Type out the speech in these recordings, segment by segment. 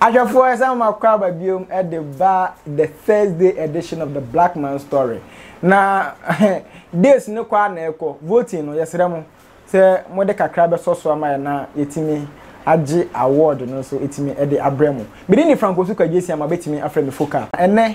Ahwɛfoɔ yɛsan mo akɔ aba biom de ba the Thursday edition of the Black Man Story. Na days no kɔ a na ɛkɔ voting no yɛsrɛ mo sɛ mode kakra bɛsɔ so ama yɛ na yɛtumi agye award no nso ɛtumi de abrɛ mo. Medin de Frank Osu Kagyesi ama bɛtumi afrɛ me Foka. Ɛnɛ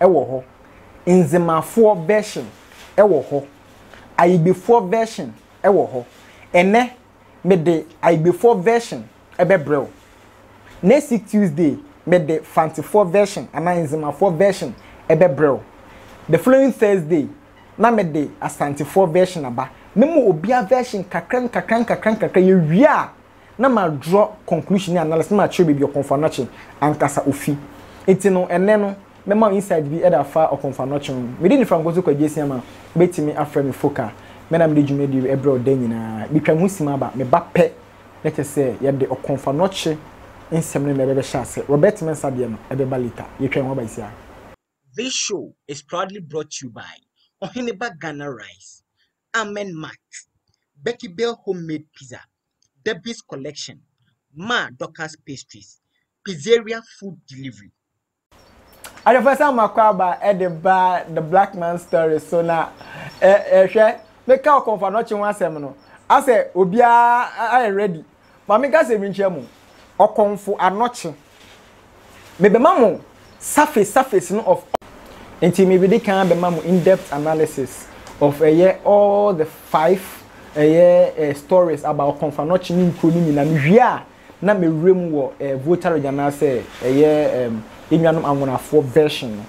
wɔ hɔ, Nzemafoɔ version wɔ hɔ, Ayibefoɔ version wɔ hɔ. Ɛnnɛ, mede Ayibefoɔ version bɛbrɛ wo. Next week Tuesday, mede Fantefoɔ version anaa Nzemafoɔ version bɛbrɛ wo. The following Thursday, na mede Asantefoɔ version aba. Mema obiara version kakra nkakra nkakra nkakra. Yɛwie a, na ma draw conclusion ne analysis na ma kyerɛ baabi Ɔkɔmfo Anokye ankasa ofi. Nti no ɛnnɛ no mɛma wo insight bi ɛde afa Ɔkɔmfo Anokye ho. Me din de Frank Nkoto Kwagyeasia ma wobɛtumi afrɛ me Foka. Me na mede dwumadie wei ɛbrɛ wo da nyinaa. Metwa me ho sim aba, meba pɛ na kyerɛ sɛ yɛde Ɔkɔmfo Anokye nsɛm no na ɛbɛbɛhyɛ aseɛ. Robert Mensah deɛ no ɛbɛba later. Yɛtwa yɛn ho aba yi siaa. This show is proudly brought to you by Ɔheneba Ghana Rice, Amen Mart, Becky Bell Home Made Pizza, Debbie's Collection, Ma Dorcas Pastries, Pizzeria Food Delivery. Adefasa Makwaaba de baa The Black Man's Story so na ɛ ɛ hwɛ meka Okomfo Anokye ho asɛm no asɛ obiara ayɛ ready Ma menka asɛm bi nkyerɛ mo, ɔkɔmfo anɔkye, mebɛma mo surface surface no of all. Nti mebedi kan abɛma mo in-depth analysis of ɛyɛ all the five ɛyɛ eh, stories about ɔkɔmfo anɔkye ne nkuro no nyinaa. Mewie a, na mewura mu wɔ eh, Volta region anaasɛ ɛyɛ eh, enuanom anwonafoɔ version no.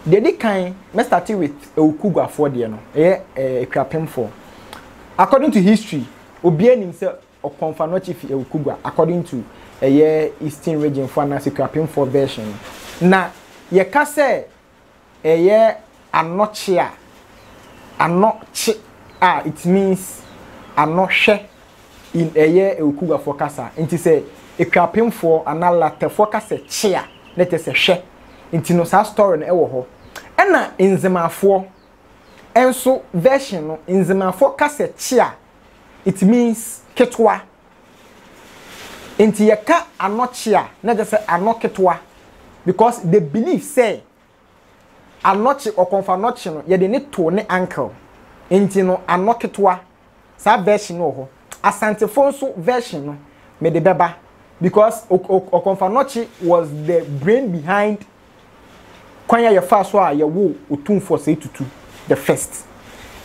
Deɛ di kan, mɛ start with Ewukuguafoɔ deɛ no, ɛyɛ eh, Ekuapemfoɔ. According to history, Obiaa nim sɛ Ɔkɔmfanɔkye fi Awukugwa according to ɛyɛ Eastern Region foɔ anaasɛ Akuapemfoɔ version no. Na yɛka sɛ ɛyɛ Anɔkye a, Anɔ kye a it means Anɔ hwɛ in ɛyɛ Awukugwafoɔ kasa. Nti sɛ Akuapemfoɔ anaa Latɛfoɔ ka sɛ kye a, na kyerɛ sɛ hwɛ. Nti no saa story no wɔ hɔ. Ɛna Nzemafoɔ. nso version no, Nzemafo ka sɛ kyea, it means ketewa. Nti yɛka ano kyea na ɛkyɛ sɛ ano ketewa because they believe sɛ anɔkye, ɔkɔmfo anɔkye no yɛde no to ne uncle. Nti no ano ketewa Saa version no wɔ hɔ. Asantefo nso version no mede bɛba because Okomfanokye was the brain behind kwan a yɛfaa so a yɛwoo Otumfo Osei Tutu the first.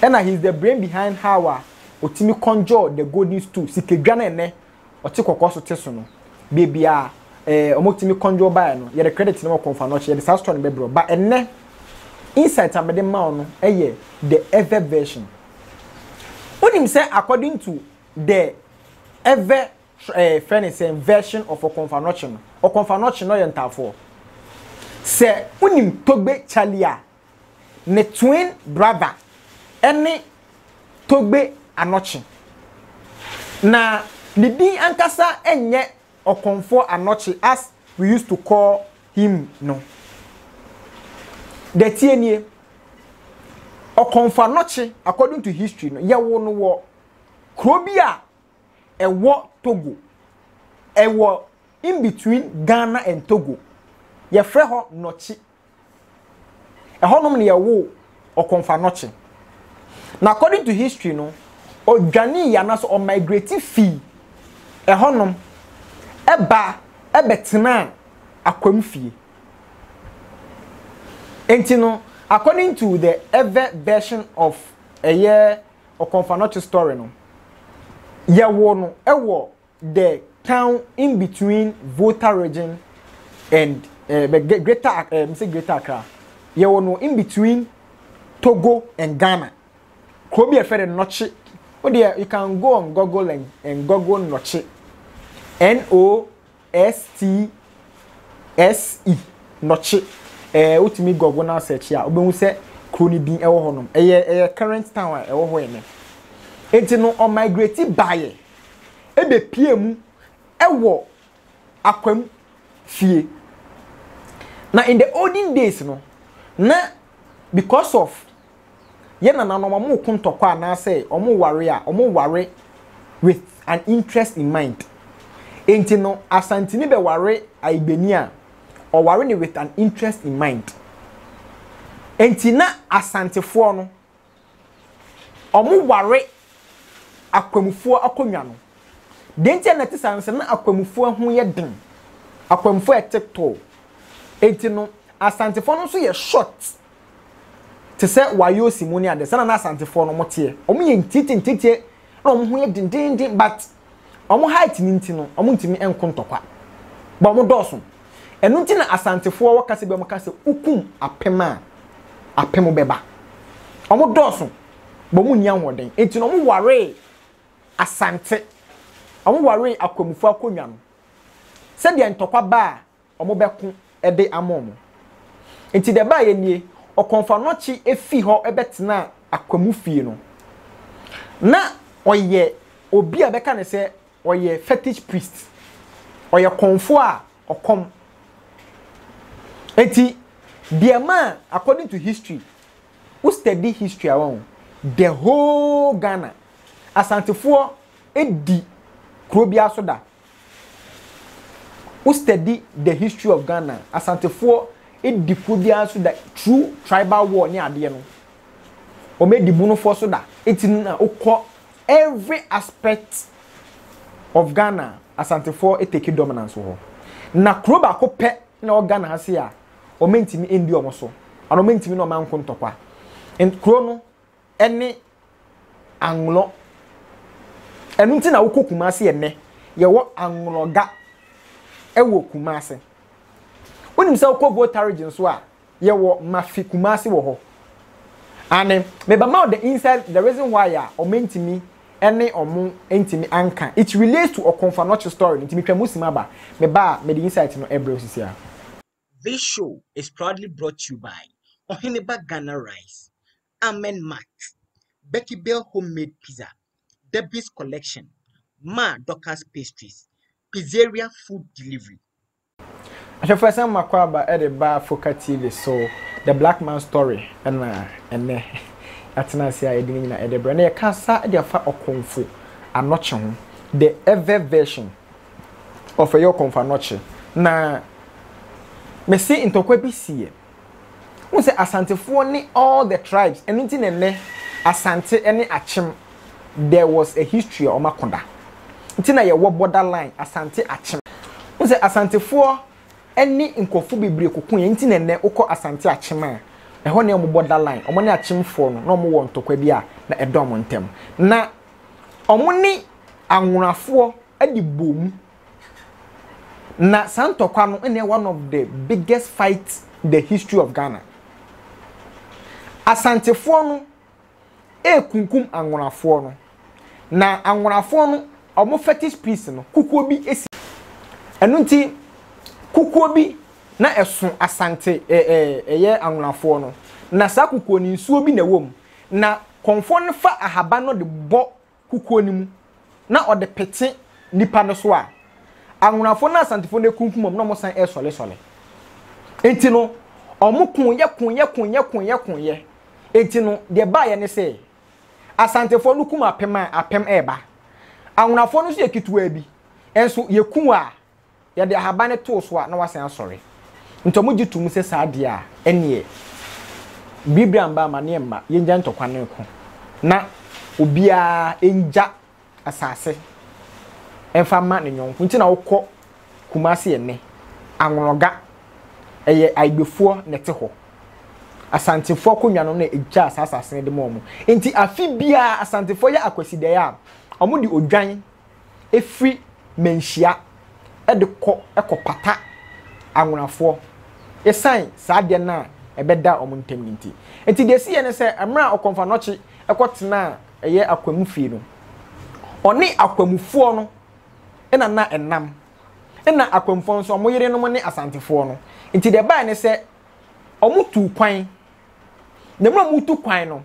Ɛna he is the brain behind how a otumi conjure the golden stool, sikadwa no a ɛnnɛ Ɔte kɔkɔɔ so te so no baabi a eh ɔmo tumi conjure baeɛ no yɛde credit no wɔ kɔnfa no ɔkyɛ yɛde saa store no bɛbrɛ wo but ɛnnɛ insight a mede ma wo no yɛ the ever version wonim sɛ according to the ever eh frɛ ne sɛn version of ɔkɔnfa no ɔkyɛ no ɔkɔnfa no ɔkyɛ no ɔyɛ ntaafoɔ sɛ wonim togbe charlie a ne twin brother ne Togbe Anokye. Na ne din ankasa nyɛ Okomfoɔ Anokye as we used to call him no. Deɛ ɛteɛ nie, Okomfo Anokye according to history no, yɛwoo no wɔ kuro bi a ɛwɔ Togo, ɛwɔ in between Ghana and Togo. Yɛfrɛ hɔ Nokye. Ɛhɔnom na yɛwoo Okomfo-Anokye. Na according to history no, ɔdwanee anaasɛ ɔmigrate fii ɛhɔnom ɛba ɛbɛtenaa Akwam fie. Enti no, according to the ever version of ɛyɛ Okomfo-Anokye story no, yɛwoo no ɛwɔ the town in between Volta region and uh, Greater, uh, say Greater Accra. Yeah, well, no, in between Togo and Ghana. Kobe a friend Noche. Oh dear, you can go on Google and, and Google Noche. N O S T S E Noche. Eh, uh, utimi Google now search here. Obehu se kuro ne din ɛwɔ hɔ nom. Ɛyɛ ɛyɛ current town a ɛwɔ hɔ ɛnɛ. Enti no ɔmigrate baeɛ. bepue mu wɔ akwam fie. Na in the olden days no, na because of yɛn nananom wɔn reko ntɔkwa anaasɛ wɔn reware a, wɔn reware with an interest in mind. Enti no, Asantini bɛware Ayigbeni a, ɔware no with an interest in mind. Enti na Asantefoɔ no, wɔware akwamufoɔ akonnwa no. Deɛ nti a na ɛte saa no sɛ na akwamufoɔ ho yɛ den, akwamufoɔ a ɛte tɔɔ. Enti no, Asantefoɔ no nso yɛ short te sɛ Wayoosi mu ne adeɛ. Saa na na Asantefoɔ no wɔteɛ. Wɔyɛ ntiatia ntiatia na wɔn ho yɛ dendeenden but Wɔn height no nti no, wɔntumi nko ntɔkwa. But wɔn dɔɔso. Ɛno nti na Asantefoɔ wɔ kasa bi wɔn ka sɛ wokum apem a apem bɛba. Wɔn dɔɔso. But wɔn nni ahoɔden. Nti na wɔn waree Asante. Wɔn waree Akwamufoɔ akonnwa no. Sɛdeɛ ntɔkwa ba a wɔbɛko de ama wɔn. Enti deɛ ɛbaeɛ nie, Ɔkɔmfoanɔkye fii hɔ bɛtenaa Akwamu fie no. Na ɔyɛ obi a bɛka no sɛ ɔyɛ fetish priest. Ɔyɛ kɔmfoɔ a ɔkɔm. Enti deɛ maa according to history, wo study history a wahu, the whole Ghana, Asantefoɔ di kuro biara so da. Wo study the history of Ghana, Asantefoɔ di kuo biara so da, through tribal war ne adeɛ no, wɔn di Bonofoɔ so da. Eti no na wokɔ every aspect of Ghana, Asantefoɔ take dominance wɔ hɔ. Na kuro baako pɛ na wɔ Ghana ha se a, wɔn ntumi ndi wɔn so, ana wɔn ntumi na wɔn anko ntɔkwa. Kuro no ne Anglɔ. Ɛno nti na wokɔ Kumase ɛnɛ. Yɛwɔ Anglɔga wɔ Kumase. Wonim sɛ wokɔ Voltaridge nso a, yɛwɔ Mafi Kumase wɔ hɔ. Ane, mebɛma wo the inside, the reason why a ɔmo ntumi ne ɔmo ntumi anka. It relates to Okomfo Anokye story no nti metwa mu sim aba. Meba a, mede insight no brɛ wo sisi a. This show is proudly brought to you by Oheneba Ghana Rice, Amen Mart, Becky Bell Homemade Pizza, Debbie's Collection, Ma Dorcas Pastries, Pizzeria Food Delivery. Ahwɛfoɔsɛm Makwaaba de ba Foka TV so The Black Man's Story na ɛnnɛ yɛatena ase a yɛde ne nyinaa de brɛ. Na yɛka asa de afa Okomfo Anokye ho, The Ewe Version. of ɛyɛ ɔkɔmfa nɔkye na mese ntɔkwa bi siiɛ wohu sɛ asantefoɔ ne all the tribes ɛno nti na ɛnɛ asante ne akyem there was a history a wɔn akoda nti na yɛwɔ border line asante akyem wohu sɛ asantefoɔ ne nkurɔfoɔ bebree koko yɛn nti na ɛnɛ wokɔ asante akyem a ɛhɔ ne wɔn border line wɔn ne akyemfoɔ no na wɔn wɔ ntɔkwa bi a na ɛdɔm ntɛm na wɔne anwonafoɔ de bɔɔ mu. Na saa ntɔkwa no na one of the biggest fight in the history of Ghana. Asantefoɔ no rekunkum anwonafoɔ no, na anwonafoɔ no wɔn fetish piece no, kukuo bi si. Ɛno nti, kukuo bi na ɛso Asante ɛɛ ɛyɛ anwonafoɔ no, na saa kukuo no nsuo bi na ɛwɔ mu. Na kɔmfoɔ no fa ahaban no de bɔ kukuo no mu na ɔde pete nnipa no so a, Anwonafoɔ ne Asantefoɔ no rekunkum wɔn na wɔsan resɔlesɔle. Enti no, wɔkoeɛ, koeɛ, koeɛ, koeɛ, koeɛ. Enti no, deɛ baeɛ ne sɛ, Asantefoɔ no kum apem a, apem reba. Anwonafoɔ no nso yɛ ketewa bi, nso yɛku a, Yɛde ahaban no too so a, na wasan asɔre. Nti wɔgye to mu sɛ saa deɛ a, ɛnneɛ, biribiara mma, amaneɛ mma, yɛngyae ntɔkwa no nko, na obiara ngya asase mfa mma ne yɔnko. Nti na wokɔ Kumasi ɛnnɛ, Anwonoga, ɛyɛ Aigbefoɔ na ɛte hɔ. Asantefoɔ akonnwa no na ɛgyaa saa asase no de maa wɔn. Nti afe biara, Asantefoɔ yɛ Akwasidaeɛ a, wɔde odwan firi mmanhyia de kɔ kɔpata anwonafoɔ ɛsiane saa adeɛ no a ɛbɛda wɔn ntam no nti. Nti deɛ ɛsiiɛ ne sɛ, mmerɛ a Ɔkɔmfanɔkye kɔtenaa ɛyɛ Akwamu fie no, ɔne Akwamufoɔ no na na ɛnam. Ɛna Akwamufoɔ no nso wɔn yerenom ne Asantefoɔ no. Nti deɛ ɛbaeɛ ne sɛ, wɔtuu kwan. Na mmerɛ a wɔretu kwan no,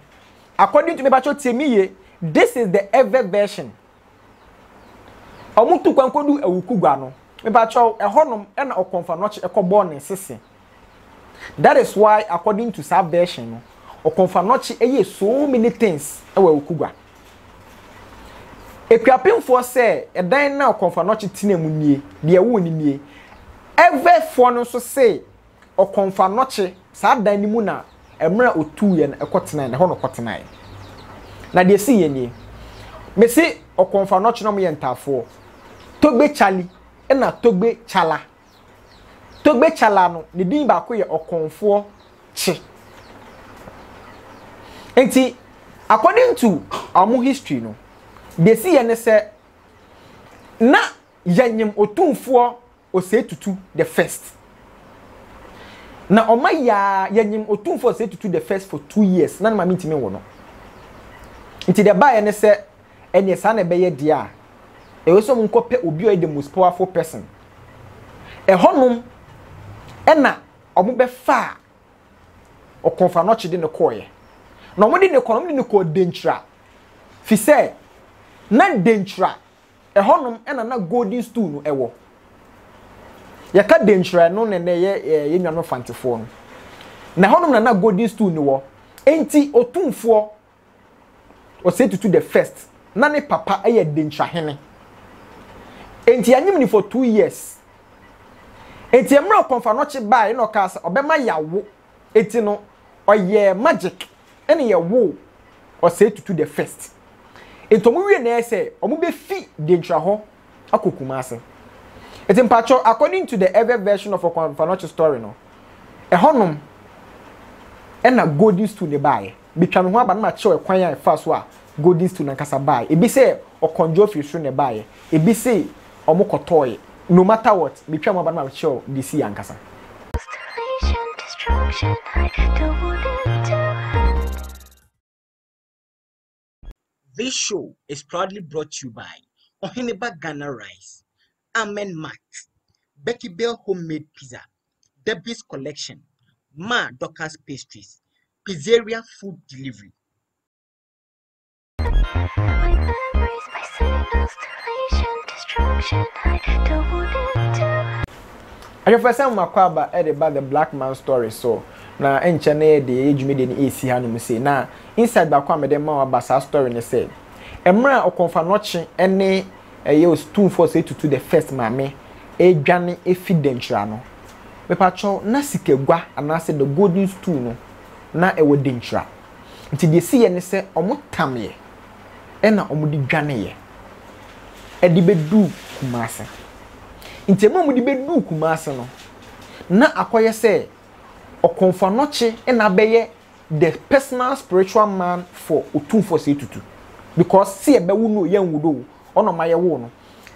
according to, mepakyɛw tie me yie, this is the ever version. Wɔtu kwan kɔdu Awukugua no. Mepakyɛw, ɛhɔnom na Ɔkɔmfanɔkye kɔbɔɔ ne nsese. That is why according to saa version no, Ɔkɔmfanɔkye yɛɛ so many things wɔ Awukugua. Akuapemfoɔ sɛ ɛdan na Ɔkɔmfanɔkye tenaa mu nie, deɛ wonim nie. Ɛvɛfoɔ no nso se Ɔkɔmfaa nnɔkye, saa dan no mu na mmerɛ a ɔtuuɛ no ɛkɔ tenaɛ no, ɛhɔ na ɔkɔtenaɛ. Na deɛ ɛsiiɛ nie, mese Ɔkɔmfaa nnɔkye na wɔyɛ ntaafoɔ, Togbe Chali ɛna Togbe Chala. Togbe Chala no, ne din baako yɛ Ɔkɔmfoɔ Kye. Nti, according to wɔn history no, deɛ ɛsiiɛ ne sɛ, na Yanyem Otumfoɔ Osei Tutu the First. Na ɔma yi ara yɛnyem Otumfoɔ Osei Tutu the First for two years na ne maame ntumi nwo no. Nti deɛ ɛbaeɛ ne sɛ ɛneɛ saa na ɛbɛyɛ deɛ a, ɛwɔ sɛ wɔnkɔpɛ obi a ɔyɛ the most powerful person. Ɛhɔnom ɛna wɔbɛfaa Ɔkɔmfanoɔkye de no kɔeɛ. Na wɔde no kɔ no, wɔde no kɔɔ Denkyira. Fi sɛ na Denkyira Ɛhɔnom na na golden stool no wɔ. Yɛka denkyerɛ no na ɛnɛ yɛ eh, yɛn nuanom fantefoɔ no. Na ɛhɔnom na na golden stool no wɔ. Enti otumfoɔ ɔsɛ tutu the first na ne papa yɛ denkyerɛhene. Enti anyim ni for two years. Enti mmerɛ kɔnfanɔkye baeɛ na ɔkaa sɛ ɔbɛma yawo Eti no ɔyɛɛ magic ɛna yɛwoo Osei Tutu the first. Enti ɔmo wie nɛɛ sɛ ɔmo bɛ fi Denkyira hɔ akɔ Kumasi. Eti mpakyɛw according to the ever version of Ɔkwan Mfanoakyi story no, ɛhɔ nom ɛna Golden Stool no baayɛ. Metwa me ho aba na makyerɛw ɛkwan a ɛfaa so a Golden Stone ankasa bae. Ebi se ɔkɔndjɔɔ firi soro na ɛbaeɛ, ebi se wɔkɔtɔɔe. No matter what, metwaa me ho aba na makyerɛw deɛ esii ankasa. Constellation destruction I don't want it to end. This show is proudly brought to you by Oheneba Ghana Rice, Amen Mart, Becky Bell Homemade Pizza, Debbie's Collection, Ma Dorcas Pastries, Pizzeria Food Delivery. Ahwɛfo sɛ mmakɔ aba de ba The Black Man Story so na nkyɛ na yɛde yɛyɛ dwumadie no ɛresi hanom sei na insight baako a mede ma waba saa story ne sɛ mmerɛ a ɔkɔmfanɔkye ne Ɛyɛ ostumfoɔ sɛ etutu the first maame ɛredwane ɛfi Dankyira no. Mepakyɛw na sikagua anaasɛ the golden stool no na ɛwɔ Dankyira. Nti deɛ ɛsiiɛ ne sɛ wɔtameɛ ɛna wɔde dwaneeɛ ɛde bɛduu Kumasi. Nti ɛberɛ a wɔde bɛduu Kumasi no na akɔyɛ sɛ Ɔkɔmfoanɔkye na abɛyɛ the personal spiritual man for otumfoɔ sɛ tutu because sɛ yɛbɛwo no yɛn wo do ɔna ɔma yɛwo no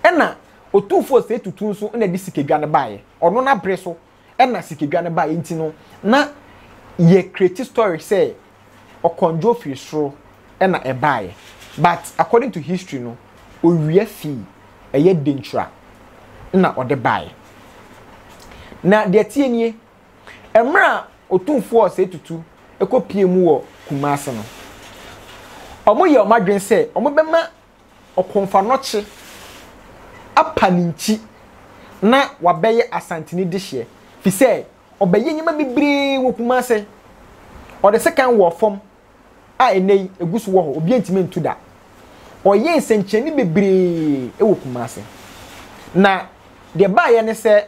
ɛna otumfoɔ sɛ tutu nso ɛna de sikadwa no baeɛ ɔno na bere so ɛna sikadwa no baeɛ nti no na yɛ create story sɛ ɔkɔndwo firi soro ɛna ɛbaeɛ but according to history no owia fii ɛyɛ denkyira na ɔde baeɛ na deɛ tie nie Mmerɛ a Otumfoɔ Osei Tutu kɔ pie mu wɔ Kumasi no, wɔn yɛ wɔn adwene sɛ wɔn bɛma Ɔkomfanɔkye apa ne nkyi na wabɛyɛ Asantini dehyeɛ fi sɛ ɔbɛyɛ nneɛma bebree wɔ Kumasi. Ɔde sekan wɔɔ fam a ɛnɛ yi ɛgu so wɔ hɔ, obi ntumi ntu da. Ɔyɛ nsɛnkyerɛnne bebree wɔ Kumasi. Na deɛ baayɛ ne sɛ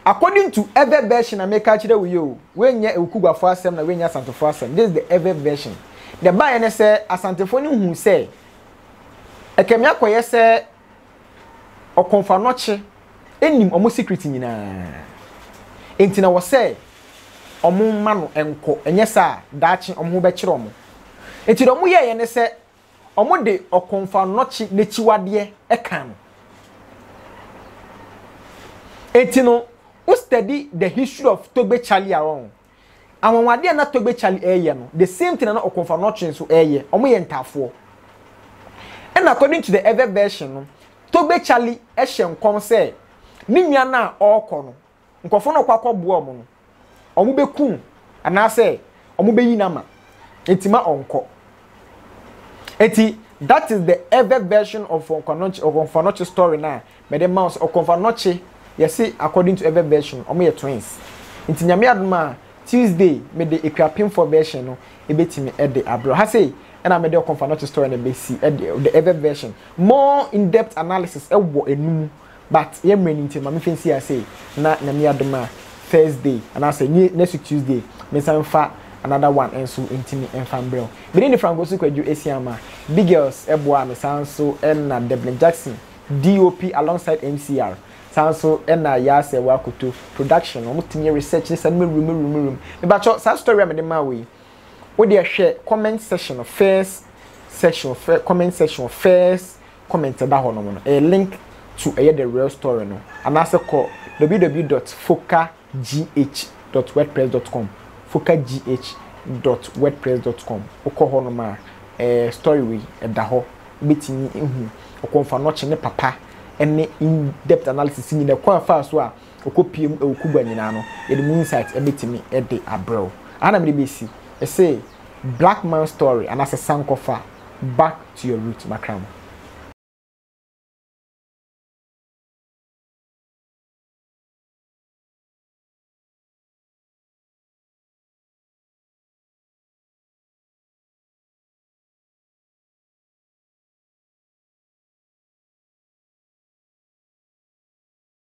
According to ever version a meka akyerɛ wo yi o, woanyɛ Ewukuguafo asɛm na woanyɛ Asantefo asɛm, this is the ever version. Deɛ ɛbaeɛ ne sɛ Asantefo no huu sɛ ɛkɛmi akɔyɛ sɛ Ɔkɔmfanɔkye nim wɔn secret nyinaa. Enti na wɔ sɛ wɔn mma no nkɔ, ɛnyɛ saa a daakye wɔn ho bɛkyerɛ wɔn. Enti deɛ wɔyɛeɛ ne sɛ wɔde ɔkomfannɔkye n'akyiwadeɛ ka no. Enti no, wo study the history of Togbe Charlie a wɔn anwanwadeɛ a na Togbe Charlie ɛreyɛ no, the same thing na ɔkomfannɔkye nso ɛreyɛ, wɔyɛ ntaafoɔ. And according to the ever version no, Togbe Charlie ɛhyɛ nkɔm sɛ ne nua no a ɔrekɔ no, nkurɔfo no a ɔkɔ akɔboa wɔn no, wɔbɛku no anaasɛ wɔbɛyi no ama. Enti ma ɔnkɔ. Enti that is the ever version of Okonfanokye Okonfanokye story na mede ma wo sɛ Okonfanokye yɛse according to ever version wɔn yɛ twins. Nti nyame adom a Tuesday mede Akuapemfoɔ version no ebetumi de abrɛ wo. Ha sei ɛna mede Okonfanokye story no besi ɛde the ever version. More in depth analysis ɛwɔ enu mu But yɛ mmerɛ no nti ma me mfa nsi ha sei na Nyame adom a Thursday anaasɛ ne next week Tuesday me nsa mfa another one nso ntimi mfa mbrɛ wo. Me din de Frank Osu Kwadwo Asiamah. Big Girls boaa me saa nso na Devlin Jackson, DOP alongside MCR. Saa nso na Yaa Serwaa Koto production wɔn tumi yɛ research ne saa nneɛma wim wim wim wim. Me ba kyɛw saa story a me de maa wo yi wo deɛ hwɛ comment section no first section fɛ comment section first comment ɛda hɔ nom no ɛyɛ link to ɛyɛ the real story no anaasɛ kɔ www dot foka gh dot wordpress dot com foka gh dot wordpress dot com wokɔ hɔ nom a ɛɛ story wei ɛda hɔ wobɛtumi ehu ɔkɔmfanɔkye ne papa ɛne in depth analysis nyina kwan faa so a Ɔkɔpue mu wɔ Cuba nyinaa no, yɛde mu insight bɛtumi de abrɛ wo. Aha na mede bɛsi. Ɛse, Black man story anaasɛ sankɔfa, back to your root, Makramo.